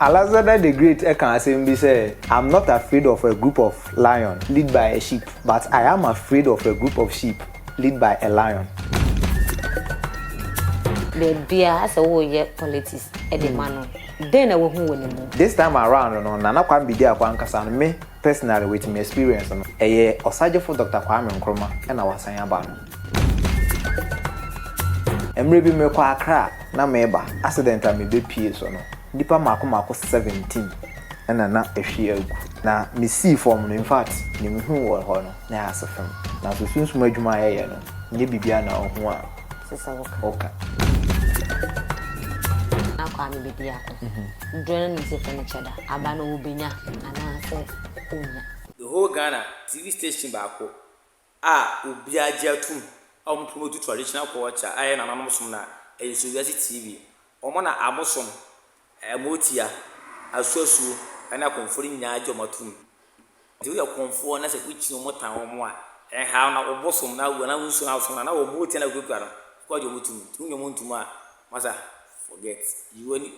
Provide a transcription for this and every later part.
Alexander the Great kaa asɛm bi sɛ, I'm not afraid of a group of lion lead by a sheep, but I am afraid of a group of sheep lead by a lion. Baabiara sɛ woyɛ politics de ma no, dɛn na wahu wɔ ne mu? This time around no, Nana Kwambi di ako ankasa no, me personally with me experience no, ɛyɛ Ɔsagyefo Doctor Kwame Nkrumah na wasan aba no. Mmerɛ bi merekɔ Accra na mereba, accident a mebɛpue so no, nnipa mmaako mmaako seventeen na na ahwie agu. Na mesii fam no, in fact, deɛ mehuu wɔ hɔ no, na ɛyɛ asefem. Nanso sunsum adwuma a yɛyɛ no, nyɛ biribiara na wohu a woka. Na Kwame bɛdi ako. Dodoɔ no ara nim sɛ yɛfrɛ no Kyɛda. Aba no, wobɛnya anaasɛ wonnya. The whole Ghana, TV station baako a obiara gye atom a wɔn pono tu traditional culture a ɛyɛ nananom som no a ɛyɛ so wiase TV wɔn na abosom ɛmotia asuasuo ɛne akɔmfoɔ no nyinaa gye wɔn atom nti woyɛ kɔmfoɔ na sɛ wokyi wɔn tan wɔn a ɛnhaw na obosom na wɔn na wonsu na asom na na wɔn motia na wokura no kɔ gye wɔn tom nti wonye wɔn ntom a masa forget you ani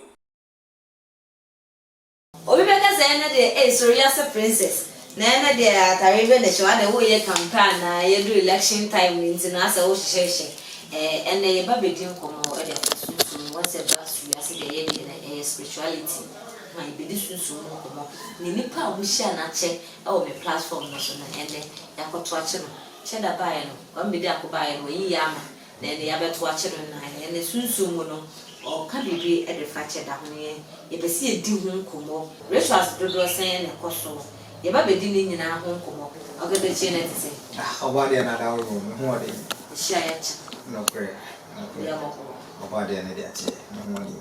Obi bɛka sɛ ɛnɛ deɛ ei soro wiase princess na ɛnɛ deɛ atare bɛ na ɛhyɛ wo adɛn woyɛ campaign anaa yɛduru election time no nti na asɛ wohyehyɛhyɛ ɛɛ ɛnɛ yɛba bɛdi nkɔmmɔ de afa sunsum mu asɛ ɛba soro wiase deɛ ɛyɛ deɛ na ɛyɛ spirituality aha yɛbɛdi sunsum mu nkɔmmɔ na nnipa a wɔhyia no akyɛ wɔ me platform no so no ɛnɛ yɛakɔto akye no kyɛ da baeɛ no wambɛdi ako baeɛ no wayiyi ama Na nea yɛabɛto akyɛ no nnan, ɛyɛ ne sunsum mu no, ɔreka biribi de fa kyɛ da ho yɛn. Yɛpɛ sɛ yɛdi ho nkɔmmɔ. Rituals dodoɔ sɛn na ɛkɔ so? Yɛba bɛdi ne nyinaa ho nkɔmmɔ. Ɔgɛbɛkyiɛ no ɛte sɛn? Ah, ɔbɔ adeɛ no ada wo wɔ me ho ɔden. Yɛhyia yɛkyɛ. Nokorɛ, nokorɛ. Yɛ mmɔbɔ. Ɔbɔ adeɛ no deɛ akyɛ, me ho ɔden.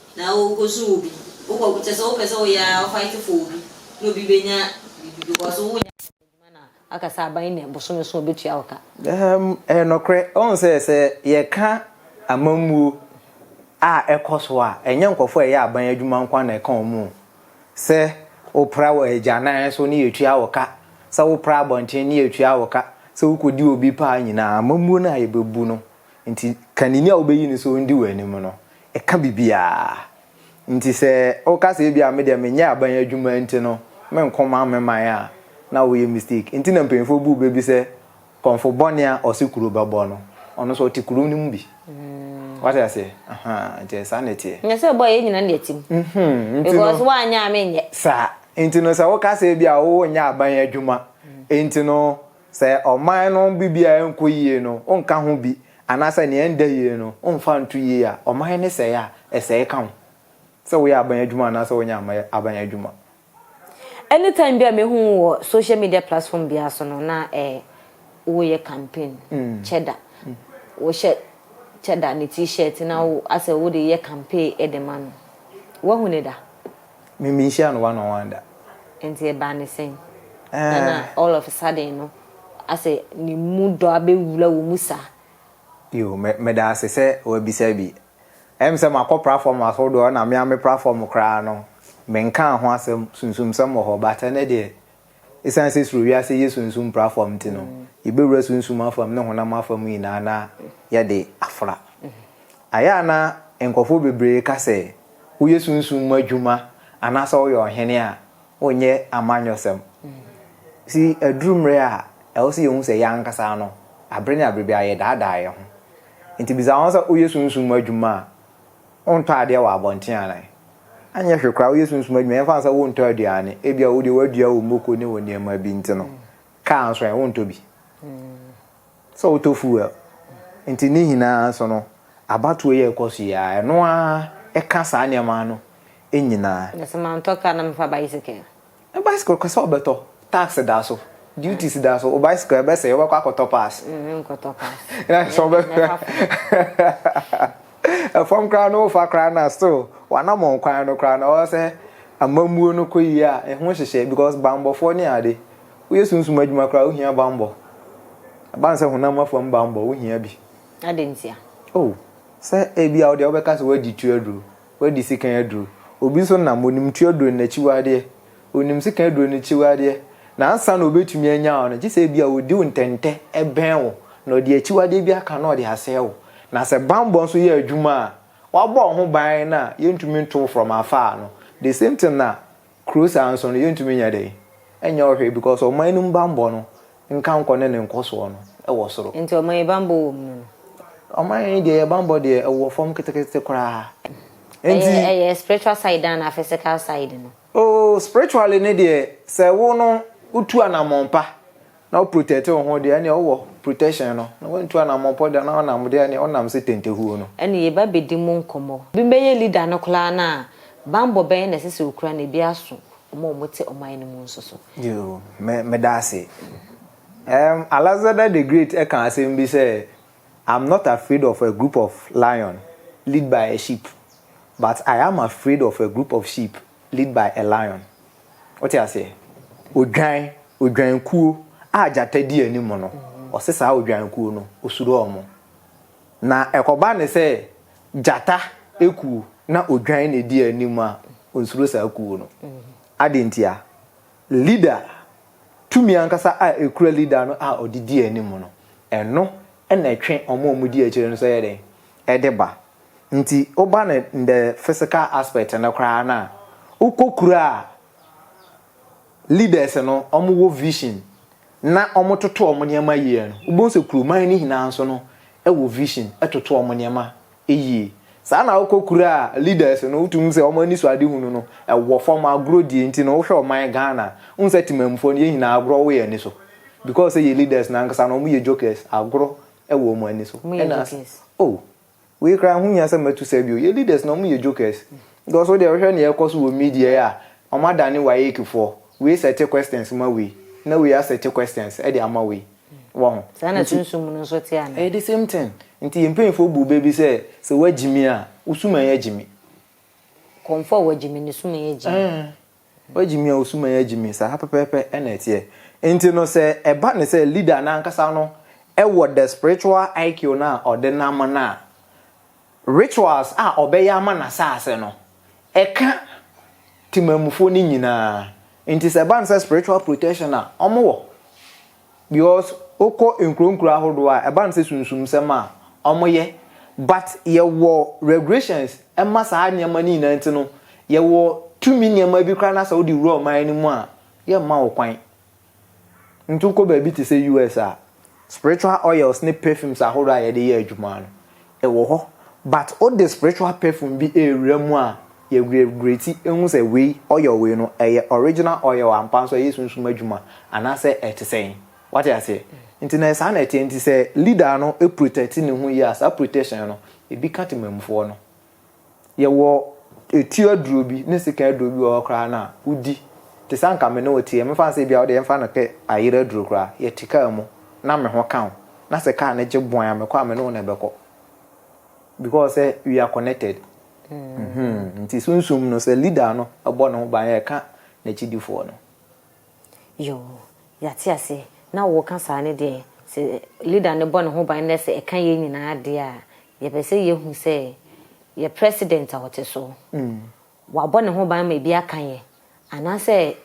Na wo kɔ su obi wo kɔ kyɛ sɛ wo pɛ sɛ wo yɛ ara wo fight for obi na obi bɛ nya biribi because wo nyɛ adwuma na aka sɛ aban nnɛ bosome nson ɔbɛ tua wo ka. Ahem ɛyɛ nɔkorɛ ɔhu sɛ sɛ yɛ ka amammuo a ɛkɔ so a ɛnyɛ nkorɔfoɔ a ɛyɛ aban adwuma nkoa na ɛka wɔn o sɛ wo pra wɔ agyanan so ne yɛ tua wo ka sɛ wo pra abɔnten ne yɛ tua wo ka sɛ wo kɔ di obi paa nyinaa amammuo no a yɛ bɛ bu no nti ka nini a wo bɛ yi no sɛ ɔndi wɔ anim no Ɛka biribiara. Nti sɛ woka sɛ ebia me deɛ menyɛ aban adwuma nti no menkɔ man me man a, na woyɛ mistake. Nti na mpanyinfoɔ bu bɛ bi sɛ kɔmfo bɔne a ɔse kuro bɛbɔ no, ɔno nso ɔte kuro no mu bi. Wate aseɛ? Ahaa, nti saa na ɛteɛ. Nyɛ sɛ ɛbɔ a, yɛn nyinaa na yɛte mu. Mhmm, nti no. Because woanyɛ a, menyɛ. Saa. Nti no sɛ woka sɛ ebia wonyɛ aban adwuma nti no. Sɛ ɔman no biribiara renkɔ yie no, wonka ho bi, anaasɛ nea ɛnda yie no, womfa nto yie a, ɔman no sɛe a, ɛsɛe ka wo, sɛ woyɛ aban adwuma anaasɛ wonyɛ aman aban adwuma. Any time bi a me hu wo wɔ social media platform biara so no na eh wo yɛ campaign kyɛda wo hyɛ kyɛda ne t-shirt na wo asɛ wo de yɛ campaign de ma no wahu ne da. Me me nhyia no one on one da. Nti ɛbaa ne sɛn? Na na Eh. all of a sudden no asɛ ne mu dɔ abɛwura wo mu saa. Yo, me meda ase sɛ wabisa bi. Ɛyɛ me sɛ makɔ prafɔm ahodoɔ na me ara me prafɔm koraa no menkaa ho asɛm, sunsumsɛm wɔ hɔ but ɛnnɛ deɛ Esiane sɛ soro wiase yɛ sunsum pra fam nti no, yebewura sunsum afam ne honam afam nyinaa na yɛde afra. Ɛyɛ a na nkurɔfo bebree ka sɛ, Woyɛ sunsum mu adwuma anaasɛ woyɛ ɔhene a, wonyɛ amanyɔsɛm. Si aduru mmere a ɛwɔ sɛ yehu sɛ yɛn ankasa no, bere ne bere biara yɛdaadaa yɛn ho. Enti bisa wo ho sɛ, 'Woyɛ sunsum mu adwuma a, Wontɔ adeɛ wɔ abɔnten anaa? Anyɛ hwee koraa woyɛ sunsum adwuma yɛmfa no sɛ wontɔ aduane, ebia wo deɛ woadua wo moko ne wo nneɛma bi nti no, kaa nso ɛ, wontɔ bi? Sɛ wotɔ fuel nti ne nyinaa nso no abatoɔ yi a ɛkɔ so yi ara ɛno ara ɛka saa nneɛma no nyinaa. Mese mantɔ car na mefa bicycle. Ne bicycle ka sɛ ɔbɛtɔ, tax da so, duties da so, wo bicycle ɛbɛsɛe, wobɛkɔ akɔtɔ parts. Menkɔtɔ parts. Na sɛ ɔbɛ ɛfam koraa no wofa koraa na still w'anamɔn kwan no koraa no ɔwɔ sɛ amammuo no kɔ yie a ɛho nhyehyɛe because bammɔfoɔ ne ade. Woyɛ sunsum adwuma koraa wohia bammɔ. Ɛba no sɛ honam afam bammɔ wohia bi. Adɛn ntia? Oh, sɛ ebia wo deɛ wobɛka sɛ woadi tu aduro. Wadi sekan aduro. Obi nso nam, ɔnim tu aduro no n'akyiwadeɛ. Ɔnim sekan aduro no akyiwadeɛ, na ansa na ɔbɛtumi anya wo no, gye sɛ ebia ɔdi wo ntɛntɛ bɛn wo, na ɔde akyiwadeɛ bi aka na ɔde asɛe wo. Na sɛ bammɔ nso yɛ adwuma a, wabɔ wo ho ban no a, yɛntumi nto wo from afar no. The same thing na kuro saa nso no yɛntumi nyɛ dɛn nyɛ hɔ hwee because ɔman no mu bammɔ no nka nkɔ ne ne nkɔsoɔ no wɔ soro. Nti ɔman yi bammɔ wɔ mu no no? Ɔman yi deɛ yɛ bammɔ deɛ ɛwɔ fam ketekete koraa. Nti. Ɛyɛ ɛyɛ spiritual side anaa physical side no? Oh spiritually no deɛ sɛ wo no wotu anamɔn pa Na wo protect wo ho deɛ ɛneɛ wowɔ protection no na wantu anamɔ pɔ deɛ na ɔnam deɛ ɛneɛ wonam se tentehuo no. Ɛne yɛba bɛdi mo nkɔmmɔ. Obi bɛyɛ leader no koraa no a, banbɔ bɛn na ɛsɛ sɛ ɔkura na ebi aso wɔn a wɔte ɔman no mu nso so? Yoo, me, meda ase. Um, Alexander the Great ɛka asɛm bi sɛ, I'm not afraid of a group of lion lead by a sheep, but I am afraid of a group of sheep Lead by a lion, Wote aseɛ? Odwan, odwankuo a gyata di anim no, ɔse saa odwankuo no, osuro wɔn. Na ɛkɔba no sɛ gyata kuo na odwan na ɛdi anim a, ɔnsuro saa kuo no. Adɛn nti a? Leader, tumi ankasa a ɛkura leader no a ɔde di anim no, ɛno na ɛtwe wɔn a wɔdi akyire no nso yɛ dɛn? Ɛde ba. Nti woba no in the physical aspect no koraa no a, wokɔ kuro a leaders no wɔwɔ vision na wɔtoto wɔn nneɛma yie no, wobɛhu sɛ kuroman no nyinaa nso no wɔ vision toto wɔn nneɛma yie. Saa ara na wokɔ kuro a leaders no wotumi hu sɛ wɔn anisoadehunu no wɔ fam, agorɔ die nti no wohwɛ ɔman Ghana a, wohu sɛ Temammufoɔ no yɛn nyinaa agorɔ wɔ yɛn ani so because sɛ yɛn leaders no ankasa no wɔyɛ jokers, agorɔ wɔ wɔn ani so. Wɔyɛ jokers. Oh. Wei koraa ho hia sɛ matu sa bio. Yɛn leaders no wɔn yɛ jokers. Because wo deɛ wohwɛ nea ɛrekɔ so wɔ media yi a, wɔn adane WAEC foɔ. Wei sɛte questions ma wei, na wei asɛte questions de ama wei. Wahu? Saa na sunsum no nso te anaa? Ɛyɛ the same thing. Nti yɛn mpanyinfoɔ buu bɛ bi sɛ, sɛ woagyimi a, wo suman agyimi. Kɔmfoɔ a wagyimi no suman agyimi. Woagye me a wo suman agye me, saa pɛpɛɛpɛ na ɛteɛ. Enti no sɛ ɛba no sɛ leader no ankasa no wɔ the spiritual IQ no a ɔde nam no a, rituals a ɔbɛyɛ ama n'asase no, ɛka Temanmufoɔ no nyinaa. Enti sɛ ɛba no sɛ spiritual protection a wɔwɔ. Because wokɔ nkuro nkuro ahodoɔ a ɛba no sɛ sunsumsɛm a wɔyɛ but yɛwɔ regulations ɛma saa nneɛma no nyinaa nti no yɛwɔ tumi nneɛma bi koraa na sɛ wode wura ɔman no mu a yɛmma wo kwan nti wokɔ baabi te sɛ US a spiritual oils ne perfumes ahodoɔ a yɛde yɛ adwuma no Ɛwɔ hɔ but wo de spiritual perfume bi ɛrewura mu a yɛ regretti ɛhu sɛ wei oil wei no ɛyɛ original oil ampa nso ɛyɛ sunsum adwuma anaasɛ ɛte sɛn wate aseɛ nti na saa na ɛteɛ nti sɛ leader no protecti ne ho yie a saa protection no ɛbi ka temanmufoɔ no Yɛwɔ etuo aduro bi ne sekan aduro bi wɔ hɔ koraa no a, wodi. Te sɛ anka me ne wo teɛ, mɛfa no sɛ ebia wo deɛ yɛmfa no pɛ ayera aduro koraa. Yɛte kaa mu na me ho ka wo, na sɛ kaa no gye bɔn a, mekɔ a, me ne wo na ɛbɛkɔ. Because sɛ we are connected. Nti sunsum no, sɛ leader no bɔ ne ho ban a, ɛka n'akyidifoɔ no. Yoo yɛate aseɛ na woka saa no deɛ sɛ leader no bɔ ne ho ban na sɛ ɛka yɛn nyinaa deɛ a yɛpɛ sɛ yɛhu sɛ yɛ president a ɔte so wabɔ ne ho ban ma ebi aka yɛ anaasɛ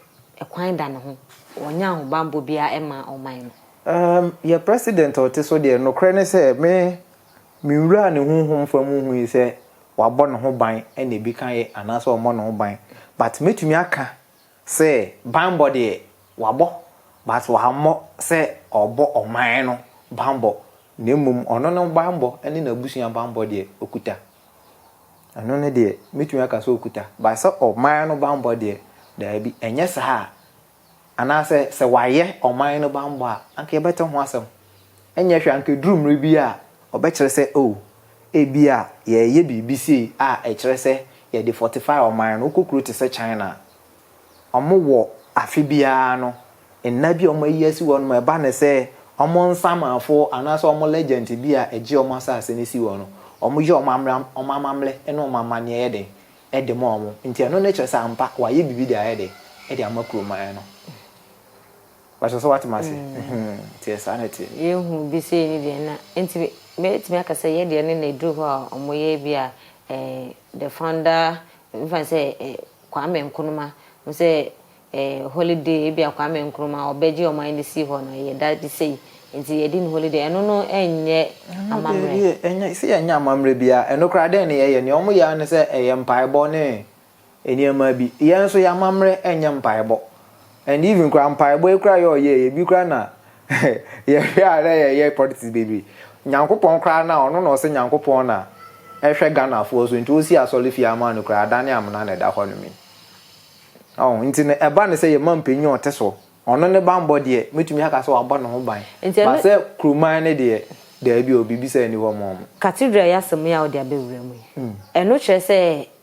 ɛkwan da ne ho ɔnyɛ ahobanbɔ biara ɛma ɔman no. Ahm yɛ president a ɔte so deɛ nokorɛ ne sɛ me me nwura ne honhom fam nhui sɛ wabɔ ne ho ban na ebi ka yɛ anaasɛ ɔmmɔ ne ho ban but mɛtumi aka Sɛ banbɔ deɛ wabɔ but wammɔ sɛ ɔrebɔ ɔman no banbɔ na mmom ɔno no banbɔ ne n'abusua banbɔ deɛ ɔkuta. Ɛno no deɛ mɛtumi aka sɛ ɔkuta but sɛ ɔman no banbɔ deɛ daabi ɛnyɛ saa anaasɛ sɛ wayɛ ɔman no banbɔ a anka yɛbɛte ho asɛm. Ɛnyɛ hwee, anka ɛduru mmerɛ bi a wɔbɛkyerɛ sɛ, Oh, ebia yɛreyɛ biribi sei a ɛkyerɛ sɛ yɛde fortify ɔman no. Wokɔ kuro te sɛ China a, wɔwɔ afe biara no nna bi a wɔayi asi hɔnom a ɛba no sɛ wɔn nsamanfoɔ anaasɛ wɔn legend bi a ɛgye wɔn asase no si hɔ no, wɔyɛ wɔn ammerɛ, wɔn amammerɛ ne wɔn amanneɛ yɛ dɛn de ma wɔn. Nti ɛno no kyerɛ sɛ ampa wɔayɛ biribi de ayɛ dɛn, de ama kuroman no. Pastor sɛ woatem ase? Nteɛ saa na ɛteɛ. Yɛhu bi sei ne deɛ na nti mɛtumi aka sɛ yɛ deɛ no na ɛduru hɔ a ɔmo yɛ bi a the founder mefa no sɛ Kwame Nkrumah hu sɛ holiday ebi a Kwame Nkrumah ɔbɛgye ɔman no sii hɔ no ɛyɛ da bi sei nti yɛdi no holiday ɛno no ɛnyɛ amammerɛ. Ɛnyɛ sɛ yɛnyɛ amammerɛ biara ɛno koraa dɛn ne yɛyɛ nea ɔmo yɛ ara ne sɛ ɛyɛ mpaebɔ ne nneɛma bi. Yɛn nso yɛn amammerɛ ɛnyɛ mpaebɔ and even koraa mpaebɔ yi koraa yɛ ɔyɛɛ yɛ bi koraa na yɛhwɛ a na yɛyɛ politics bebree. Nyankopɔn koraa na ɔno na ɔse Nyankopɔn na ɛhwɛ Ghanafoɔ so nti ɔsi asɔrefie ama no koraa adane amena na ɛda hɔ nom yi. Ɔho nti no ɛba no sɛ yɛma mpanin a ɔte so ɔno ne banbɔ deɛ mɛtumi aka sɛ wabɔ ne ho ban but sɛ kuroman no deɛ daabi o biribi saa nni hɔ ma wɔn. Cathedral yi asɛm yi a wode abɛwura mu yi ɛno kyerɛ sɛ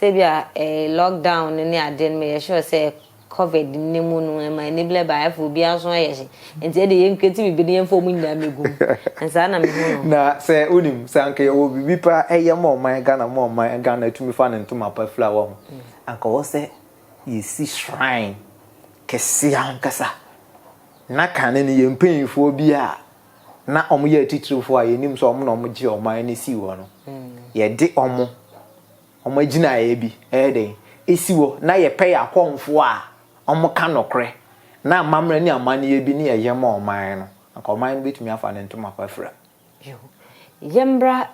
Sɛ ebia lock down no ne ade no meyɛ sure sɛ covid ne mu no ɛma ani blɛ ba ɛfo obiara nso ayɛ hye nti ɛde yɛn kreti bibi no yɛmfa ɔmo nyinaa megu mu nsaa na mehu no. Na sɛ wonim sɛ anka yɛwɔ bibi pa ɛyɛ ma ɔman Ghana ma ɔman Ghana atumi fa ne ntoma pa fira wahu anka ɛwɔ sɛ yɛsi shrine kɛseɛ ankasa na kane no yɛn mpanyinfoɔ bi a na wɔyɛ atitirifoɔ a yɛnim sɛ wɔn na wɔgyee ɔman no sii hɔ no, yɛde wɔn, wɔn agyinaeɛ bi ɛyɛ dɛn ɛsi hɔ na yɛpɛ yɛ akɔmfoɔ a wɔka nokorɛ na amammerɛ ne amanneɛ bi ne ɛyɛ ma ɔman no, anka ɔman no bɛtumi afa ne ntoma pa afira. Yɛmmra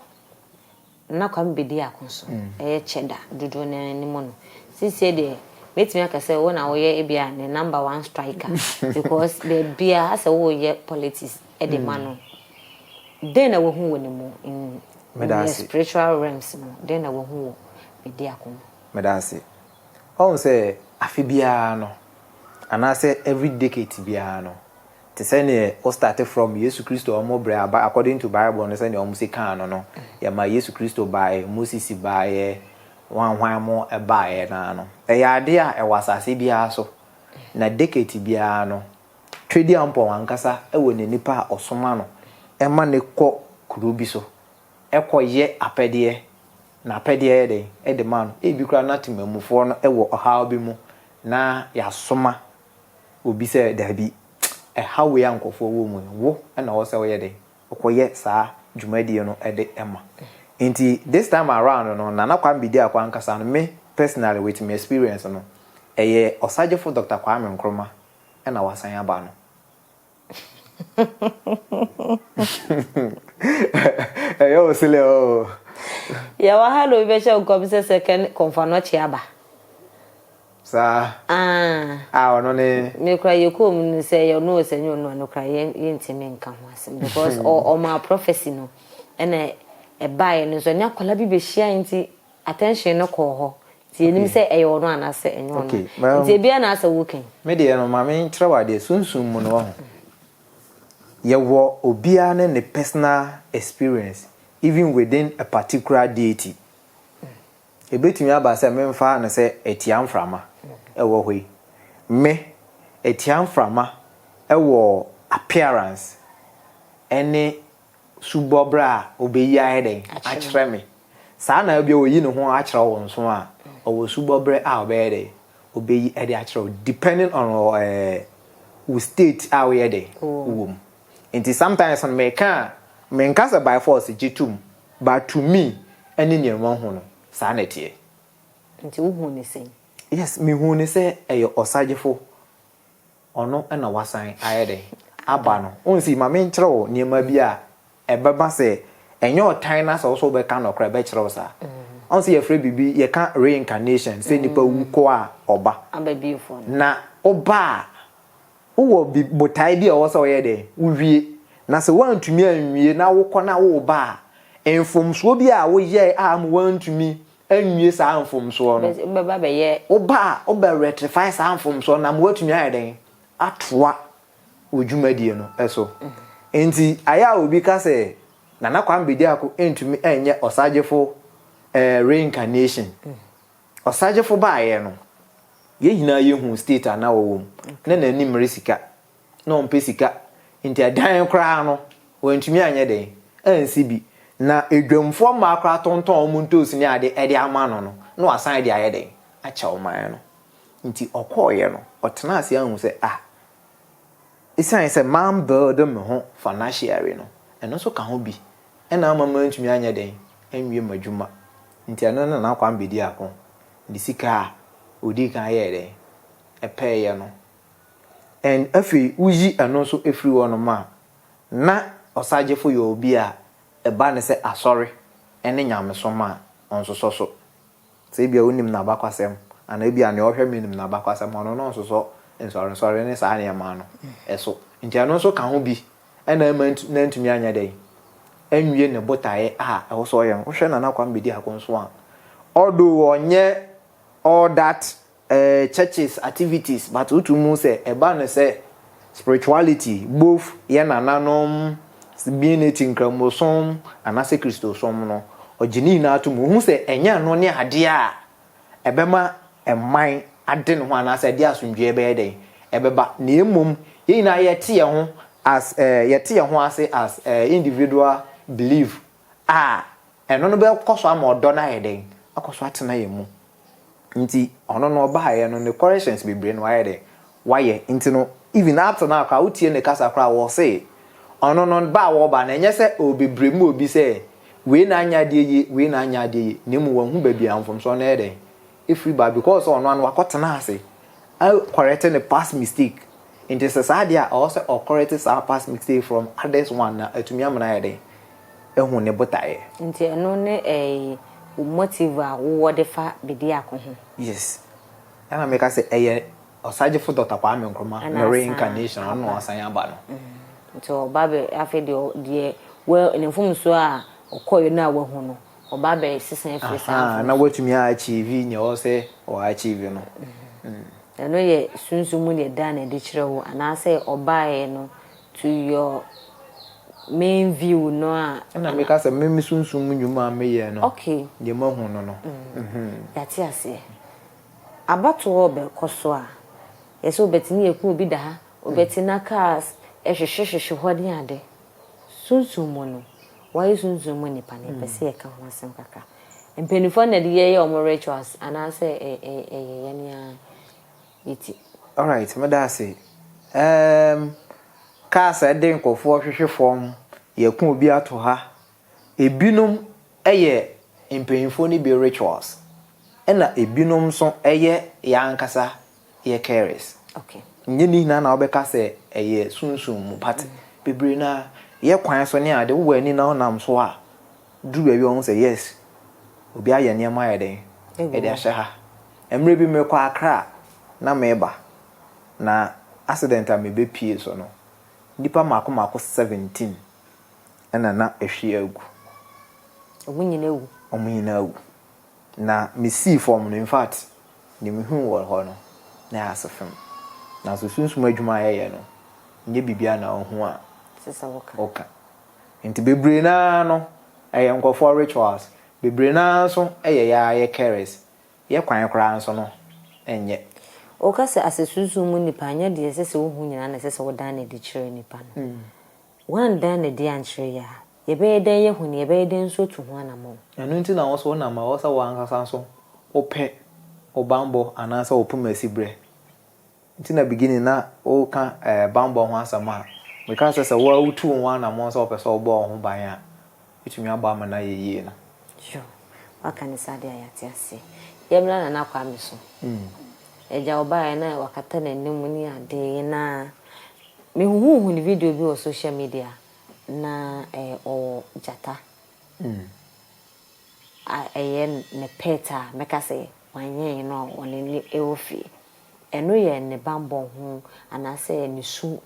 Nna Kwame bedi ako so yɛ kyɛ da dodoɔ no ara no mu no, seesei deɛ mɛtumi aka sɛ wo na woyɛ ebia ne number one striker because baabiara asɛ woreyɛ politics de ma no. Dɛn na wahu wɔ ne mu in the spiritual realms no, dɛn na wahu wɔ bedi ako mu? Meda ase. Wahu sɛ afe biara no anaasɛ every decade biara no, te sɛ neɛ wo starte from Yesu Kristo a ɔmo brɛ aba according to Bible no sɛdeɛ ɔmo se kaa no no yɛmaa Yesu Kristo baaɛ Moses baaɛ hwan hwan mo baaɛ no ara no ɛyɛ adeɛ a ɛwɔ asase biara so na decate biara no Twediampɔn ankasa wɔ ne nipa a ɔsoma no ma no kɔ kuro bi so kɔ yɛ apɛdeɛ na apɛdeɛ yɛ dɛn de ma no ebi koraa na temanmufoɔ no wɔ ɔhaw bi mu na yasoma obi sɛ daabi, ɛha wei a nkurɔfoɔ wɔ mu no, wo na ɛwɔ sɛ woyɛ dɛn? Wokɔyɛ saa dwumadie no de ma. Nti this time around no, Nana Kwame Bediako ankasa no, me personally with me experience no, ɛyɛ Ɔsagyefo Doctor Kwame Nkrumah na wasan aba no. ɛyɛ wo sele oo yɛwɔ ha na obi bɛhyɛ nkɔm sɛ sɛ kɛn kɔmfa no ɔkye aba saa ah. a ɔno ne mekora yɛkɔɔ mu no sɛ yɛ ɔno sɛ nyɛ ɔno a no kora yɛntimi nka ho asɛm because ɔmaa prophecy no ɛna ɛbaeɛ no nso ɛne akwadaa bi bɛhyia nti attention no kɔɔ hɔ nti yɛnim sɛ ɛyɛ ɔno anaasɛ ɛnyɛ ɔno nti ebiara na asɛ woka yi. Me deɛ no maame nkyerɛ wo adeɛ sunsum mu no wahu yɛwɔ obiara ne ne personal experience even within a particular deity ɛbɛtumi aba sɛ me mfa no sɛ atia mframa ɛwɔ hɔ yi me atia mframa ɛwɔ appearance ɛne su bɔ bra a, obeyi ayɛ dɛn? Akyerɛ me. Saa na ebia oyi ne ho akyerɛ wo nso a, ɔwɔ su bɔ bra a ɔbɛyɛ dɛn? Obeyi de akyerɛ wo depending on wo eh, state a woyɛ dɛn? Wowɔ mu. Nti sometimes no meka a, menka sɛ by force gye tom, but to me ɛne nea mahu no, saa na ɛteɛ. Nti wohuu no sɛn? Yes, mehuu no sɛ ɛyɛ ɔsagyefo. Ɔno na wasan ayɛ dɛn aba no. Wohu sei, ma menkyerɛ wo nneɛma bi a ɛbɛba sɛ ɛnyɛ ɔtan no ara sɛ wo nso wobɛka no koraa, ɛbɛkyerɛ wo saa. Wohu sɛ yɛfrɛ biribi, yɛka reincarnation sɛ nipa wu kɔ a ɔba. Na woba a, wowɔ botae bi a ɛwɔ sɛ woyɛ dɛn wowie. Na sɛ woantumi anwie na wokɔ na woreba a, mfomsoɔ bi a woyɛe a ama woantumi anwie saa mfomsoɔ no. Wobɛba bɛyɛ. Woba a, wobɛ rectify saa mfomsoɔ no na ama woatumi ayɛ dɛn? Atoa wo dwumadie no so. Nti, ayɛ a obi ka sɛ Nana Kwame Bediako ntumi nyɛ ɔsagyefo reincarnation. Ɔsagyefo baeɛ no, yɛn nyinaa yɛhuu state a na ɔwɔ mu. Na n'anim resika. na ɔmpɛ sika nti ɛdan koraa no wantumi anyɛ dɛn ansi bi na adwamfoɔ mmaa koraa tontɔn wɔn ntoosi ne adeɛ de ama no no na wasan de ayɛ dɛn akyɛ ɔman no nti ɔkɔeɛ no ɔtenaa ase ahu sɛ ah ɛsiane sɛ man build me ho financially no ɛno nso ka ho bi ɛna ama mantumi anyɛ dɛn anwie m'adwuma nti ɛno ne Nana Kwame Bediako de sika a ɔdii kan yɛɛ dɛn ɛpɛɛyɛ no And afei woyi ɛno nso firi hɔ nom a, na ɔsagyefo yɛ obi a ɛba ne sɛ asɔre ne nyamesom a ɔnsosɔ so. Sɛ ebia wonim n'abakwasɛm anaa ebia nea ɔhwɛ me nim n'abakwasɛm a, ɔno no nsosɔ nsɔrensɔre ne saa nneɛma no so. Nti ɛno nso ka ho bi na ɛma na ntumi anyɛ dɛn anwie ne botaeɛ a ɛwɔ sɛ ɔyɛ no. Wohwɛ Nana Kwame Bediako nso a, although ɔnyɛ all that eh churches activities but wo tum hu sɛ ɛba no sɛ spirituality both yɛ nananom being it nkramosom anasɛ kristosom no ɔgye ne nyinaa tum ohu sɛ ɛnyɛ ɛno ne adeɛ a ɛbɛma ɛman ade ne ho anasɛ ɛde asomdwoeɛ bɛyɛ dɛn ɛbɛba na mmom yɛ nyinaa yɛ te yɛ ho as eh yɛ te yɛ ho ase as eh individual believe a ɛno no bɛkɔ so ama ɔdɔ no ayɛ dɛn akɔ so atena yɛ mu. Ntsi ɔno no ɔbaeɛ no ne corrections bebree no wayɛ dɛn wayɛ ntsi no even up to now koraa wotsie ne kasa koraa wɔse ɔno no ba a wɔba no ɛnyɛ sɛ ɔɔbebrem ma obi sɛ wei na anyɛ adeɛ yie wei na anyɛ adeɛ yie na mmom wahu baabi a mfomsoɔ no ɛyɛ dɛn ɛfiri ba because sɛ ɔno ano wakɔtena ase a correct ne past mistake nti sɛ saa deɛ a ɔwɔ sɛ ɔcorrect saa past mistake from others one na atumi ama no ayɛ dɛn ahu ne botaeɛ. Nti ɛno ne ɛɛyi wo motive a wowɔ de fa Bediako ho? Yes. Ɛna meka sɛ ɛyɛ Ɔsagyefo Dɔkta Kwame Nkrumah Ɛna ne asan reincarnation a ɔno na aba. ɔsan aba no. Nti ɔba bɛ afei deɛ ɔ deɛ wa ne mfomsoɔ a ɔkɔeɛ no a wahu no ɔba abɛsesa afiri saa Ahaa, na mfomsoɔ. watumi a achieve nea ɔwɔ sɛ ɔ achieve no. Mm. Ɛno yɛ Sunsum mu deɛ Dan de kyerɛ wo anaasɛ ɔbaeɛ no To your main view no a. Ɛna meka sɛ me me sunsum mu nnwuma a meyɛ no okay deɛ moahu no no mm yɛate aseɛ abatoɔ rebɛkɔ so a yɛ sɛ wobɛte ne yɛku obi da ha wobɛte na cars ɛhwehwe hwehwe hɔ ne ade sunsum mu no woayɛ sunsum mu nipa no yɛpɛ sɛ yɛka ho asɛm kakra mpaninfoɔ na ɛde yɛyɛ wɔn rituals anaasɛ ɛyɛ yɛne ara. Iti alright medase eem cars a ɛde nkorɔfoɔ hwehwe fɔm yɛko obi ato ha ebinom ɛyɛ mpanyinfoɔ no bi rituals ɛna ebinom nso ɛyɛ yɛn ankasa yɛ carers nyɛ ne nyinaa na wobɛka sɛ ɛyɛ sunsum mu but bebree no ara yɛ kwan so ne ade wowɔ ani na wonam so a duru baabi a wɔhu sɛ yes, obi ayɛ nneɛma ayɛ dɛn, de ahyɛ ha. Mmerɛ bi merekɔ Accra a na mereba, na accident a mebɛpue so no, nnipa mmaako mmaako seventeen na na ahwie agu. Wɔn nyinaa awu? Wɔn nyinaa awu. Na mesii fam no, infact, deɛ mehuu wɔ hɔ no, na ɛyɛ asefem. Nanso sunsum adwuma a yɛyɛ no, nyɛ biribiara na wohu a woka. Nti bebree no ara no ɛyɛ nkorɔfoɔ rituals, bebree no ara nso yɛ yɛ ara yɛ carers, yɛ kwan koraa nso no nyɛ. Woka sɛ asɛ sunsum mu nipa anyɛ deɛ ɛsɛ sɛ wohu nyinaa na ɛsɛ sɛ wodan no adi kyerɛ nipa no. Woandan no adi ankyerɛ yɛ a, yɛbɛyɛ dɛn yɛahu no, yɛbɛyɛ dɛn nso atu ho anamɔn? Ɛno nti na wo nso wonam a ɛwɔ sɛ wo ankasa nso wopɛ wo bammɔ anaasɛ wo poma siberɛ. Nti na beginning na woka ɛɛ banbɔ ho asɛm a, mekaa sɛ sɛ wo ara wotu wo ho anamɔn sɛ wopɛ sɛ wobɔ wo ho ban a, wobɛtumi abɔ ama no ayɛ yie no. Sure. Woaka no saa deɛ a yɛate aseɛ. Yɛmmra Nana Kwame so. Agya ɔbaeɛ na wakata n'anim ne adeɛ na mehuhuuhu ne video bi wɔ social media na ɛɛ ɔwɔ gyata. ɛyɛ ne pet a mɛka sɛ wanyɛ yɛn no a ɔne no wɔ fie. Ɛno yɛ ne bammɔ ho anaasɛ ne su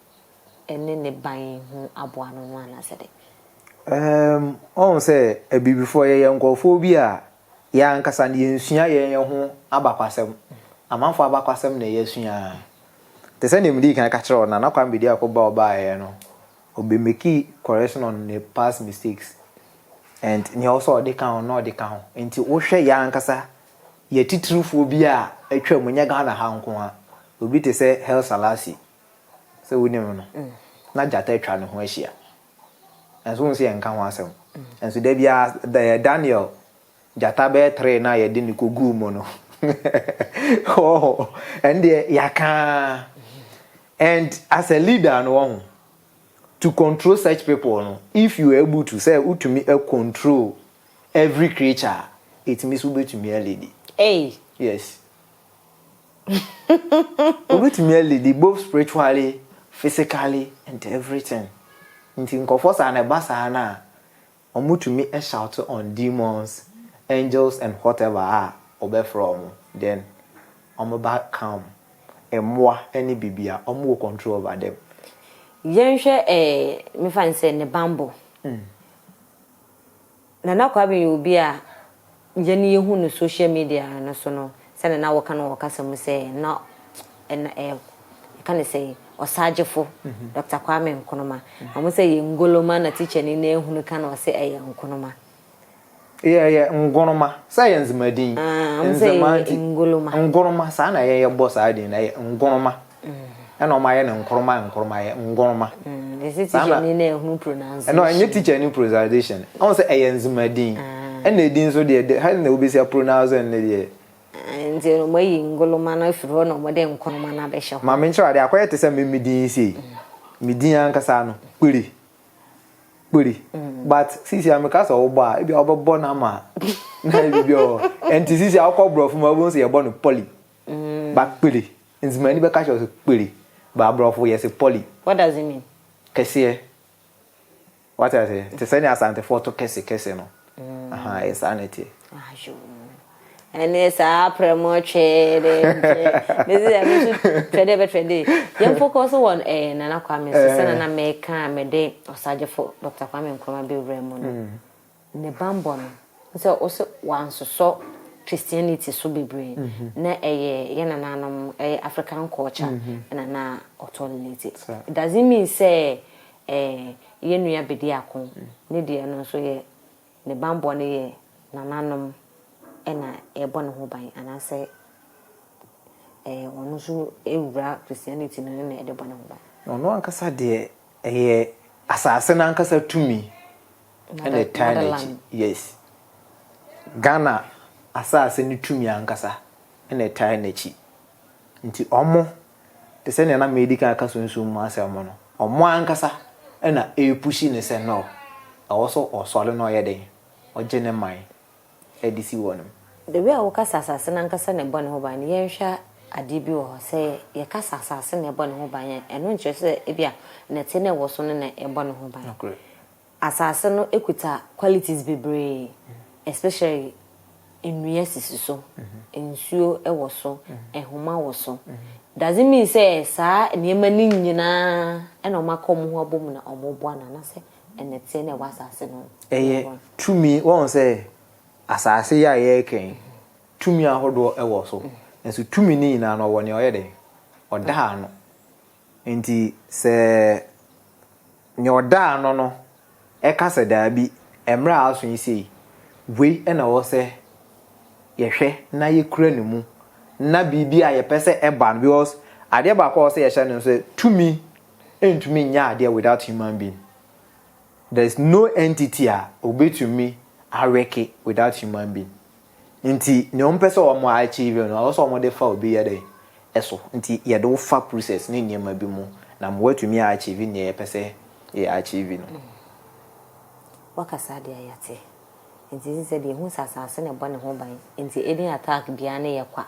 ne ne ban ho aboa no no anaasɛ dɛn? Um, ɔhu sɛ abibifoɔ yɛyɛ nkurɔfoɔ bi a yɛn ankasa no yɛnsua yɛn yɛn ho abakwasɛm. Amanfoɔ abakwasɛm na yɛasua. Te sɛ nea medii kan ka kyerɛɛ wo no, Nana Kwame Bediako ba ɔbaeɛ no, Obemeki correction on ne past mistakes and nea ɔwɔ sɛ ɔde ka ho no na ɔde ka ho. Nti wohwɛ yɛn ankasa yɛn atitirifoɔ bi a atwam, nyɛ Ghana ha nko ara, obi te sɛ Haile Selassie, sɛ wonim no, na gyata atwa ne ho ahyia. Nanso wohu sɛ yɛnka ho asɛm. Nanso da biara, Daniel Gyata bɛyɛ three no a yɛde no kɔguu mu no wɔho ɛno deɛ yɛaka ara and as a leader no wɔho to control such people no if you are able to sɛ wotumi control every creature a ɛtumi sɛ wobɛtumi alidi yes wobɛtumi alidi both spiritually physically and everything nti nkɔfoɔ saa na ɛba saa no a Ɔmo tumi shout on demons, angels and whatever a ɔbɛfrɛ ɔmo then ɔmo ba calm. Mmoa ne biribiara ɔmo wɔ control over them. Yɛnhwɛ ɛɛ mefa no sɛ ne banbɔ. Nana Kwame yɛ obi a. Yɛn yɛhu no social media no so no sɛdeɛ na wɔka no wɔ ɔkasa mu sɛ na ɛna ɛ yɛka ne sɛ ɔsagyefo Doctor Kwame Nkrumah ɔmo sɛ yɛ ngoloma na tikyani no ahunu ka na ɔse ɛyɛ nkonoma. Yɛ yɛ ngonoma sɛ yɛ nzema din. Aah ɔmo sɛ yɛ ngoloma. Ngonoma saa na yɛn yɛbɔ saa din no ɛyɛ ngonoma. ɛna ɔma yɛ no nkoroma nkoroma yɛ ngoroma. Ɛsɛ teacher ni na ɛhunu pronunciation. Ɛna ɛnyɛ teacher ni pronunciation. Ɔn sɛ ɛyɛ nzema din. Ɛna edin nso deɛ de hali na wobesi a pronounce ɛn ne deɛ. Nti ɔmo ayi ngoloma no afiri hɔ na ɔmo de nkoroma no abɛhyɛ hɔ. Maame nkyerɛ ade akɔyɛ te sɛ me me din sei. Me din ankasa no kpiri kpiri but sisi a meka sɛ ɔwobɔ a ebi a ɔbɛbɔ no ama na ebi bi ɔ ɛnti sisi a ɔkɔ borɔfo ma ɔbɛhu sɛ yɛbɔ no pɔli. Ba kpiri. Nzimani bɛka kyerɛ wo sɛ kpiri, but aborɔfo yɛse pɔli. What does it mean? Kɛseɛ. Wate aseɛ? Te sɛnea Asantefoɔ to kɛse kɛse no. Ahaa, ɛyɛ saa na ɛteɛ. Ayoo. Ɛneɛ saa aprɛ mo twɛɛ dɛ nkyɛ. Mese dɛ me nso twɛ dɛ bɛ twɛ dɛ. Yɛn focus wɔ eh, Nana Kwame so sɛnea na meka mede Ɔsagyefo Doctor Kwame Nkrumah bɛwura mu no. Ne bammɔ no ne sɛ ɔsɛ wɔansosɔ Christianity so bebree na ɛyɛ yɛn nananom, ɛyɛ African culture na na ɔtolerate. It doesn't mean sɛ yɛn nua bedi ako, ne deɛ no nso yɛ ne bammɔ no yɛ nananom na ɛrebɔ ne ho ban anaasɛ ɔno nso awura Christianity no na ɛde bɔ ne ho ban. Ɔno ankasa deɛ ɛyɛ asase no ankasa tumi Ɛna ɛtaa n'akyi. Yes. Ghana asase no tumi ankasa ɛna ɛtaa n'akyi. Nti ɔmo, te sɛ nea na medi kan aka sunsum mu asɛm mu no, ɔmo ankasa ɛna ɛrepushi no sɛ no, ɛwɔ sɛ ɔsɔre na ɔyɛ dɛn? Ɔgye ne man ɛde si hɔ nom. The way a woka sɛ asase no ankasa na ɛbɔ ne ho ban no, yɛnhwɛ adeɛ bi wɔ hɔ. Sɛ yɛka sɛ asase na ɛbɔ ne ho ban a, ɛno nkyerɛ sɛ ebia nnɛteɛ no a ɛwɔ so no na ɛbɔ ne ho ban. Nokorɛ. Asase no kuta qualities bebree especially nnua sisi so, nsuo wɔ so, nhoma wɔ so. Doesn't mean sɛ saa nneɛma no nyinaa na wɔaka wɔn ho abom na wɔreboa no anaasɛ nnɛteɛ no a ɛwɔ asase no. Ɛyɛ tumi, woahu sɛ asase yi a yɛreka yi tumi ahodoɔ wɔ so nanso tumi no nyinaa no ɔwɔ nea ɔyɛ dɛn? Ɔda ano. Enti sɛ nea ɔdaa ano no ka sɛ daabi, mmere a aso yi sei, wei na ɛwɔ sɛ yɛhwɛ na yekura no mu na biribi a yɛpɛ sɛ ɛba no, because adeɛ baako a ɛwɔ sɛ yɛhyɛ no nso sɛ tumi ntumi nyɛ adeɛ without human being. There is no entity a obetumi awɛke without human being. Nti nea wɔn pɛ sɛ wɔn achieve no ɛwɔ sɛ wɔn de fa obi yɛ dɛn ɛso nti yɛde wo fa process ne nneɛma bi mu na ma watumi a achieve nea yɛpɛ sɛ yɛ achieve no. Wakasa deɛ yɛte nti sɛ sɛ deɛ ehu sɛ asaase na ɛbɔ ne ho ban nti any attack biara ne yɛ kwa.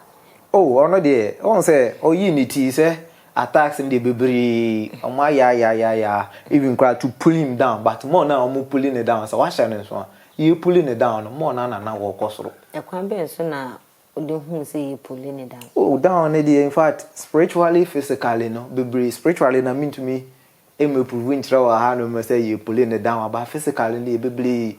Oh ɔno deɛ wohu sɛ ɔyii ne ti sɛ attacks no deɛ bebree wɔn ayɛ ayɛ ayɛ ayɛ even koraa to pull him down but more no a wɔn pulling no down sɛ wahyɛ no nso a. Yɛapuli no down no, more no ara na na wɔrekɔ soro. Ɛkwan bɛn so na wode huu sɛ yɛapuli no down? Oh, down no deɛ, in fact, spiritually, physically no, bebree, spiritually na mentumi mmɛprove nkyerɛ wo ahanom sɛ yɛapuli no down, but physically no deɛ bebree,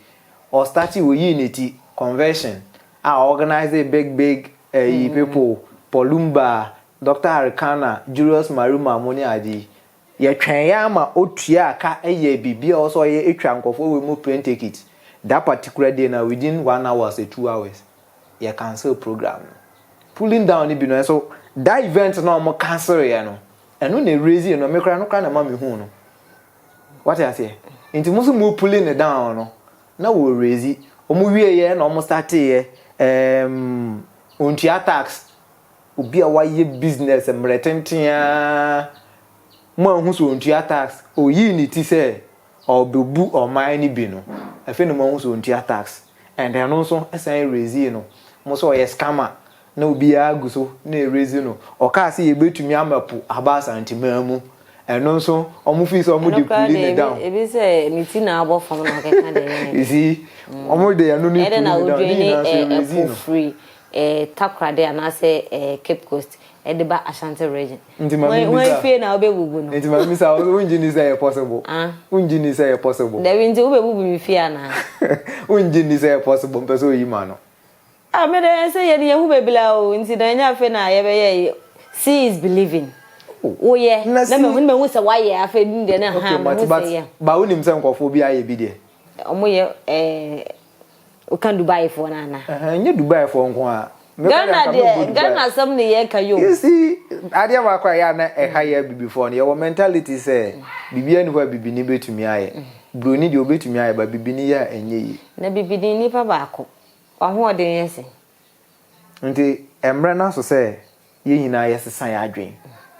ɔstartee, ɔyii ne ti, conversion, a ɔorganisee big big ayi people, Paul Lumba, Doctor Arikana, Julius Maruma, mo ne ade yi. Yɛtwɛnee ara ma ɔtuaa ka yɛɛ biribi a ɔwɔ sɛ ɔyɛ twaa nkurɔfoɔ wei mu plane ticket that particular day na within one hours or two hours yɛ cancel program no. Pulling down no bi no nso that event no a wɔn cancelleɛ no ɛno na ɛraise no me koraa ɛno koraa na ɛma me huu no wate aseɛ nti mo nso mo pulling no down no na wɔ raise wɔn wieɛ na wɔn starteeɛ ɛɛm ɔntua tax Obi a wayɛ business mmerɛ tenten ara ma wahu sɛ ɔntua tax, ɔyii ne ti sɛ ɔrebɛbu ɔman no bi no, afei na moahu sɛ ɔntua tax and ɛno nso san erasee no mo sɛ ɔyɛ scammer na obiara gu so na erase no. Ɔkaa sɛ yɛbɛtumi ama po aba Asanteman mu, ɛno nso wɔn feel sɛ wɔn de pull no down. Ɛno koraa deɛ ebi sɛ ne ti na abɔ fam na ɔkeka deɛ ɛyɛ ne dɛ. You see, wɔn de ɛno no pull no down, ne nyinaa nso erase no. Takoradi anaasɛ Cape Coast de ba Ashanti region. Nti maame bisa. Wɔn fie na wobɛbubu no. Nti maame bisa wongye ni sɛ ɛyɛ possible? Ah. Wongye ni sɛ ɛyɛ possible? Dabi nti wobɛbubu me fie anaa? Wongye ni sɛ ɛyɛ possible mpɛ sɛ oyi ma no? Ah me deɛ sɛ yɛn yɛhu baabi la o nti na ɛnyɛ afei na yɛbɛyɛ yi see is believing. Woyɛ na mehu na mehu sɛ wayɛ afei dum deɛ na ha mehu sɛ yɛ. Ba wonim sɛ nkɔfoɔ bi ayɛ bi deɛ. Wɔyɛ ɛɛ. Wo ka Dubai foɔ no anaa. Ɛhɛn nyɛ Dubai foɔ nko ara. Ghana deɛ Ghana asɛm na yɛ ka yoo. You see adeɛ baako a ɛyɛ a na ɛha yɛ abibifoɔ no yɛ wɔ mentality sɛ biribiara nni hɔ a bibini bɛtumi ayɛ. Broni deɛ ɔbɛtumi ayɛ but bibini yɛ a ɛnyɛ yie. Na bibini nipa baako w'ahoɔden yɛ sɛn. Nti ɛmmerɛ no aso sɛ Yɛn nyinaa yɛsesa yɛn adwene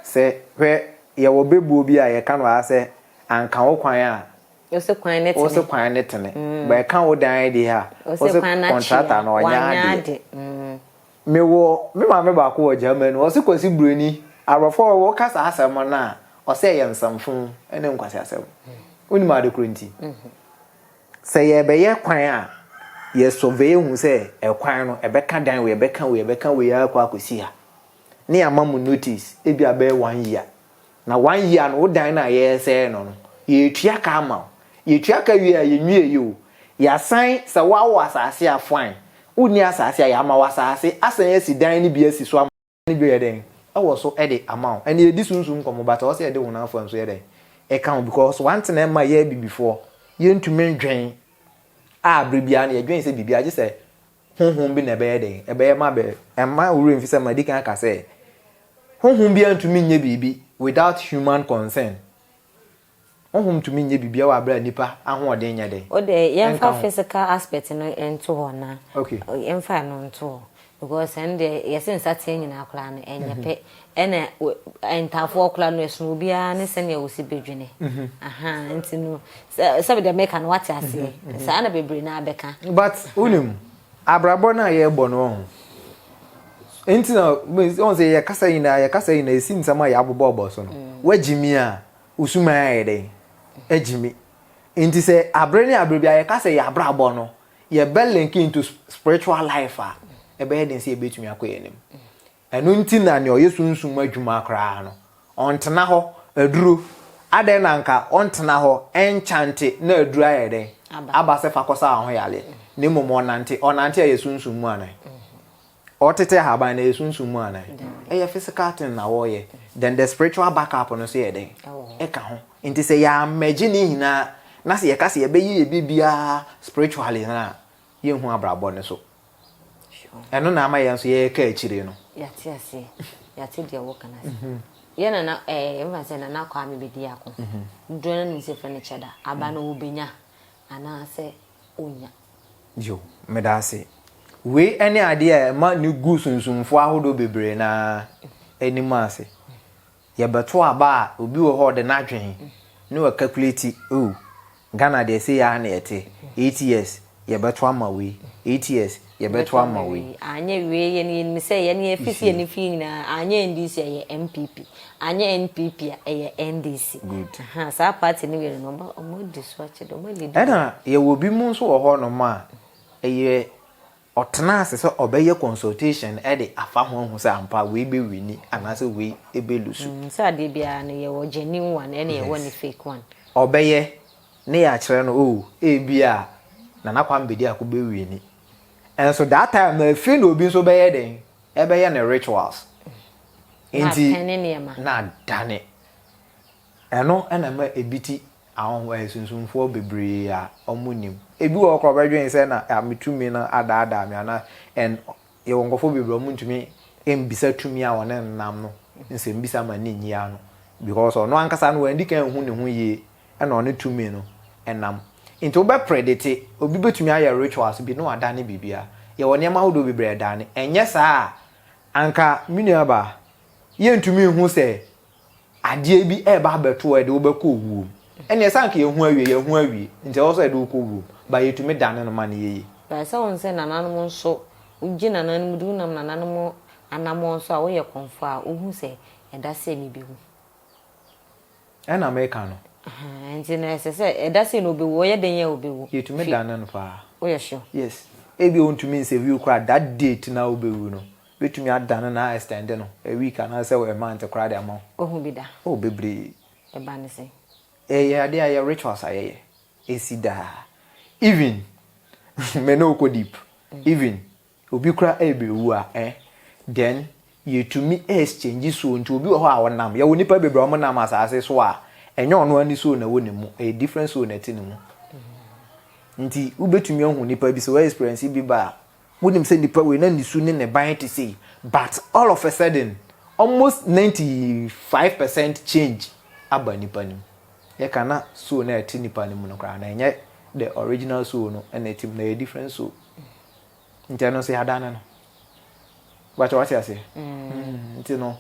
sɛ, hwɛ, yɛwɔ bebuo bi a yɛka no ha sɛ, anka wo kwan a, wo se kwan no tene, wo se kwan no tene, mm. but ɛka wo dan deɛ a, wo se kɔntrata no ɔnyɛ adeɛ. Mm. Mewɔ me maame baako wɔ Germany, ɔse kwasi buroni, aborɔfo a wɔka saa asɛm no a, ɔsɛ ɛyɛ nsɛmfo ne nkwasi asɛm. Mm. Wonim ade koro nti. Mm-hmm. Sɛ yɛrebɛyɛ kwan a, yɛ survey hu sɛ ɛkwan no ɛbɛka dan wei, ɛbɛka wei, ɛbɛka wei ara kɔ akɔsi ha. Ne yɛama mo notice ebi a bɛyɛ one year. Na one year no wo dan no a yɛresɛe no no, yɛretua ka ama wo. Yɛtua ka wie a yɛnwieeɛ o, yɛasan sɛ woawo asase a fine, wonni asase a yɛama wo asase asan asi dan no bi asi so ama wo. ne dwo yɛ dɛn wɔ so de ama wo ɛnna yɛdi sunsum nkɔmmɔ but ɔwɔ sɛ yɛde honam afɔre nso yɛ dɛn ɛka ho because one thing ɛma yɛ abibifoɔ yɛntumi ndwen a bere biara no yɛdwen sɛ biribi agye sɛ honhom bi na ɛbɛyɛ dɛn ɛbɛyɛ ma bɛ ɛma wura mfi sɛ ma di kan aka sɛ honhom biara ntumi nyɛ biribi without human concern Honhom tumi nyɛ biribiara wɔ aberɛ a nnipa ahoɔden nyɛ den. O deɛ yɛmfa physical aspect no nto hɔ na yɛmfa ɛno nto hɔ because ɛno deɛ yɛse nsateɛ nyinaa koraa no ɛnyɛ pɛ ɛna ntaafoɔ koraa no ɛsono obiara ne sɛdeɛ wosi bɛdwene ahaa nti no sɛbe deɛ meka no wate aseɛ saa na bebree no abɛka. But wonim abrabɔ no a yɛbɔ no ɔho nti na ɔhu sɛ yɛkasa nyinaa yɛkasa nyinaa ɛsi nsɛm a yɛabobɔbɔ so no woagyimi a Wo suman ayɛ dɛn? Agye me. Nti sɛ abere ne abere bia yɛka sɛ yɛn abrabɔ no yɛbɛ link into spiritual life a, ɛbɛyɛ den sɛ yɛbɛtumi akɔ yɛn anim. Ɛno nti na nea ɔyɛ sunsum mu adwuma koraa no, ɔntena hɔ, aduro, adɛn na anka ɔntena hɔ ɛnkyante na aduro ayɛ dɛn? Aba sɛ fa kɔsa w'ahoyareɛ. Na mmom ɔnante, ɔnante a ɛyɛ sunsum mu anaa? Wɔtete ahaban no ɛyɛ sunsum mu anaa? Ɛyɛ physical thing na wɔyɛ. Then the spiritual back up no nso yɛ dɛn? Ɛka ho. Nti sɛ yɛ merge ne nyinaa na sɛ yɛka sɛ yɛbɛyɛ yɛ biribiara spiritually no a, yɛnhu abrabɔ no so. Ɛno na ama yɛn nso yɛka akyire no. Yɛate aseɛ. Yɛate deɛ wɔka no ase. Yɛ nana ɛɛ mfa sɛ nana kɔ ame bɛdi ako. Dodoɔ no anim sɛ furniture da. Aba no wɔbɛnya anaasɛ ɔnnya. Yo, meda ase. Wei ne adeɛ a ɛma no gu sunsumfoɔ ahodoɔ bebree no ara anim ase. Yɛbɛto aba a, obi wɔ hɔ a ɔde no adwene na wakalkuleti, oh, Ghana deɛ sei ara na yɛte, eight years yɛbɛto ama wei, eight years yɛbɛto ama wei. Anyɛ wei, yɛn yɛnim sɛ yɛn yɛn fifie ne fie nyinaa, anyɛ NDC a ɛyɛ NPP. Anyɛ NPP a ɛyɛ NDC. Good. Ahaa saa party no mmienu no wɔn adi so akyɛ deɛ wɔn a lead. Ɛna yɛwɔ bi mo nso wɔ hɔ nom a ɛyɛ ɔtena ase sɛ ɔbɛyɛ consultation de afa ho ahu sɛ ampa wei bɛ wini anaasɛ wei bɛ lusu. Mm sɛ adeɛ biara no yɛwɔ genuine one ɛna yɛwɔ ne fake one. Ɔbɛyɛ ne yɛakyerɛ no oh ebia Nana Kwame Bediako bɛ wini nso that time no afei na obi nso bɛyɛ dɛn Ɛbɛyɛ ne rituals nti na adane. Ɛno na ɛma ebi ti ahonho ɛyɛ sunsumfoɔ bebree a ɔmo nim. Ebi wɔ hɔ koraa ɔbɛdwen sɛ na a me tumi no adaadaa me anaa and yɛwɔ nkorɔfoɔ bebree a ɔmo ntumi mbisa tumi a wɔne no nam no nsɛmbisa ma ne nyi ano because ɔno ankasa no w'andikan anhu ne ho yie na ɔne tumi no nam. Nti wobɛpere de te, obi bɛtumi ayɛ rituals bi na wadane biribiara. Yɛwɔ nneɛma ahodoɔ bebree a ɛdane. Ɛnyɛ saa a, anka me nuabaa, yɛntumi nhu sɛ adeɛ bi ɛreba abɛto wo a ɛde wo bɛkɔ owuo mu. Ɛnneɛ sɛ anka yɛhu awie, yɛahu awie. Nti ɛwɔ sɛ yɛde wo kɔ owuo mu. But yɛtumi dane no ma no yɛ yie. But sɛ wohu sɛ nananom nso, wogye nananom di, wonam nananom anammɔn so a, woyɛ kɔmfoɔ a, wohu sɛ ɛda sɛ mebewu. Ɛna meka no. Ahaa, nti no ɛsɛ sɛ, ɛda sei na ɔbɛwu, ɔyɛ dɛn a ɔbɛwu? Yɛtumi Fi, dane no paa. woyɛ sure? Yes. Ebia ɔntumi nsɛ wiew koraa, that date no a wobɛwu no, bɛtumi adane no a extend no a week anaasɛ a month koraa de ama wo. Wahu bi da? Oh, bebree. Ɛba ne sɛn? Ɛyɛ adeɛ a ɛyɛ rituals a yɛyɛ, ɛsi daa. Even, me ne wo kɔ deep, even. Obi kora ɛrebewu a ɛ then yɛtumi exchange soul nti obi wɔ hɔ a ɔnam yɛwɔ nipa bebree a wɔn nam asaase so a ɛnyɛ ɔno ani soul na ɛwɔ ne mu ɛyɛ different soul na ɛte ne mu nti wobɛtumi ahu nipa bi sɛ wɔ experience bi ba a wonim sɛ nipa wei na ne su ne ne ban te sei but all of a sudden almost 95 percent change aba nipa no mu yɛka na soul na ɛte nipa no mu no koraa na ɛnyɛ the original soul no na ɛte mu na ɛyɛ different soul. Nti ɛno nso yɛadan no no. Bàtchɛ wate aseɛ. Mm, nti no.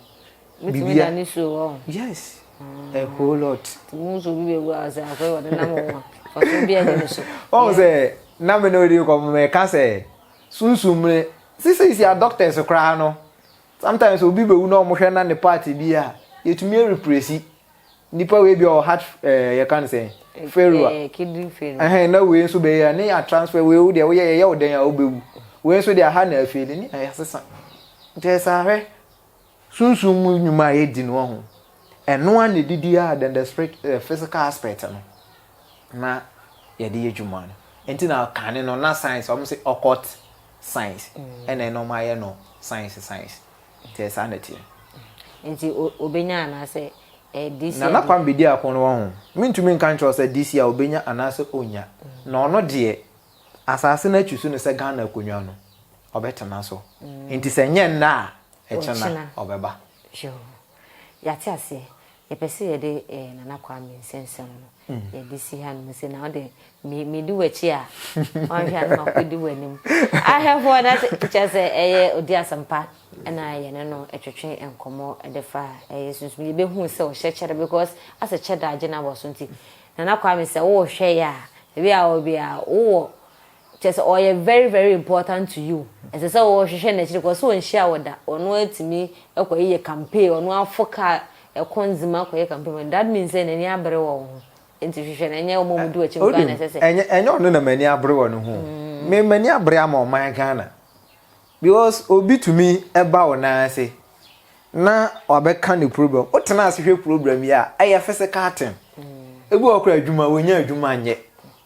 Bitumi da ne so wɔ. Yes. Mm. A whole lot. Ti mu nso bi bɛ wu a sɛ afɛ wɔde nam wɔn a. Fɔso bi a ne so. Wɔn sɛ na mi na odi kɔ mo mɛ ka sɛ sunsun mi sisi sisi a doctors koraa no sometimes obi bɛ wu na wɔn hwɛ na ne part bi a yɛtumi represi Nipa wei bia ɔwɔ heart ɛɛ yɛ ka no sɛn failure ɛɛ kidney failure ɛhɛn na wei nso bɛyɛ ne yɛ transfer wei wo deɛ woyɛ yɛyɛ wo dɛn a wobɛwu wei nso deɛ aha na afeeli ne yɛ asesa nti ɛsɛ ahwɛ sunsun mu nnwuma a yɛdi no ho ɛno a na ɛdidi a then the spirit uh, physical aspect no na yɛde yɛ dwuma no nti na kane no na science ɔmo se occult science ɛna ɛna ɔmo ayɛ no science science Nti saa na ɛteɛ. Nti ɔbɛnya anaasɛ this year. Nana Kwame di ako no wahu. Mentumi nka nkyerɛ wo sɛ this year ɔbɛnya anaasɛ ɔnnya. Na ɔno deɛ asaase no atwi so no sɛ Ghana akonnwa no ɔbɛtena so. Nti sɛ ɛnyɛ nnɛ a ɛkyena ɔbɛba. Yoo yɛate aseɛ. Yɛpɛ sɛ yɛde eh, Nana Kwame nsɛmnsɛm no, yɛde si hanom sɛ, na wode me, medi w'akyi a, wanhwɛ a na makɔdi w'anim. Ahwɛfoɔ na sɛ, kyerɛ sɛ ɛyɛ odi asɛmpa na yɛne no twetwe nkɔmmɔ de fa ɛyɛ sunsum. Yɛbɛhuu sɛ ɔhyɛ kyɛ da because asɛ kyɛ da agye no abɔ so nti, Nana Kwame sɛ wohwɛ yɛ a, baabi a wowɔ biara wowɔ Kyerɛ sɛ ɔyɛ very very important to you, ɛsɛ sɛ wo hwehwɛ no akyiri kɔ, ɔse ɔnhyia wo da, ɔno atumi kɔ yɛ campaign, ɔno afo car ɛkɔ nzema kɔ yɛ campaign ma no, that means sɛ n'ani abere wɔ wo ho, nti hwehwɛ no, ɛnyɛ wɔn a wɔdi w'akyi nkoaa na ɛsɛ sɛ. Wonim, ɛnyɛ ɔno na m'ani abere wɔ ne ho o, me m'ani abere ama ɔman Ghana, because obi tumi ba wo nan ase na wabɛka ne problem, wo tena ase hwɛ problem yi a, ɛyɛ physical thing, ebi wɔ hɔ koraa adwuma, wɔnnya adwuma nyɛ.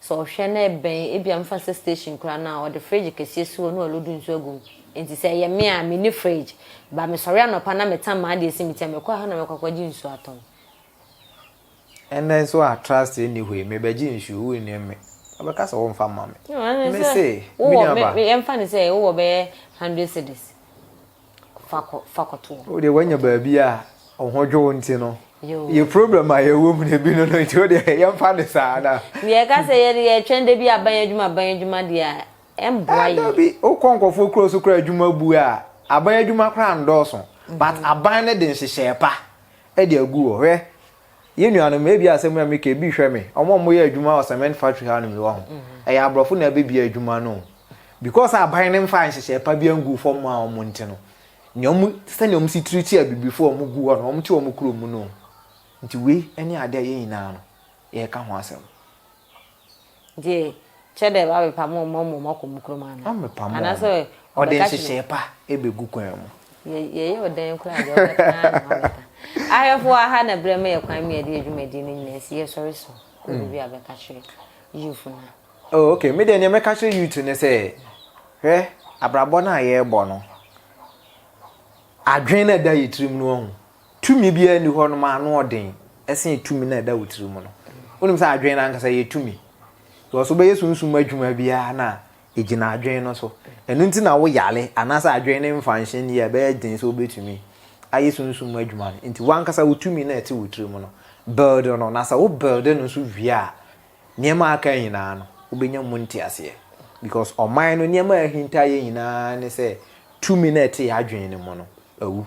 Sɛ ɔhwɛ na ɛbɛn, ebia mfa nsɛ station koraa no a, ɔde fridge kɛseɛ si hɔ na ɔlodu nsuo agu mu. Enti sɛ ɛyɛ me a, menni fridge. But mesɔre anɔpa na metam m'adeɛ asi me ti a, mekɔ ɛhɔ na mekɔ akɔgye nsuo atɔn. Ɛnnɛ nso a trust nni hɔ yi, mebɛgye nsuo, wonnim me. Ɔbɛka sɛ womfa mma me. Mese, Me nuaba. Wowɔ, yɛmfa no sɛ wowɔ bɛyɛ hundred cedis. fa kɔto hɔ. Wodeɛ wanya baabi a wo ho dwo wo nti no yɛ problem a yɛwɔ mu no bi no no nti wodeɛ yɛmfa no saa na. Deɛ ɛka sɛ yɛde yɛtwɛn da bi aban adwuma aban adwuma deɛ a ɛmboa yɛn. Dabi wokɔ nkɔfoɔ kuro so koraa adwuma bu a aban adwuma koraa ndɔɔso but aban no de nhyehyɛɛ pa ɛde agu hɔ hwɛ. Yɛn nuanom, ebia asɛm yi a meka yi, bi hwɛ me, wɔn a wɔyɛ adwuma wɔ cement factory hanom yi, wahu, ɛyɛ aborɔfo na ɛbɛbia adwuma no o. Because a aban no mfaa nhyehyɛe pa biara nguu fam mmaa wɔn nti no, nea wɔn, sɛnea wɔn si treati abibifo a wɔgu hɔ no, wɔte wɔn kurom mu no o. Nti wei ne ade a yɛn nyinaa no, yɛreka ho asɛm. Nti kyɛ dɛ abɛpam hɔn ma ɔma hɔn akɔ mu kurom anaa? Ɔmmɛpam hɔn. Anaasɛ Ɔde ɔbɛka kyerɛ. nhyehyɛɛ pa begu kwan mu. Yɛ yɛyɛ wo dɛn koraa dze ɔbɛka ara na ɔabɛka. Ahwɛfo wɔ ha na brɛ ma yɛ kwan ma yɛde yɛ dwumadie no nyinaa si. Yɛsɔre so kɔ baabi a bɛka kyerɛ youth no a. Oh okay, me deɛ neɛ mɛka kyerɛ youth ne sɛ, hwɛ abrabɔ no a yɛrebɔ no, adwene no a ɛda yɛ tirim no wahu, Tumi biara nni hɔnom a ano ɔden sen tumi no a ɛda wo tiri mu no. Wonim sɛ adwene no ankasa yɛ tumi? Because wobɛyɛ sunsum adwuma biara no a, ɛgyina adwene no so. Ɛno nti na woyare anaasɛ adwene no mfa nhyɛ nni a, ɛbɛyɛ den sɛ wobɛtumi ayɛ sunsum adwuma no. Nti w'ankasa wo tumi no a ɛte wo tiri mu no, build no. Na sɛ wo build no nso wie a, nneɛma a aka nyinaa no, wobɛnya mu nteaseɛ. Because ɔman no, nneɛma a ahinta yɛ nyinaa ne sɛ tumi no a ɛte yɛn adwene no mu no awu.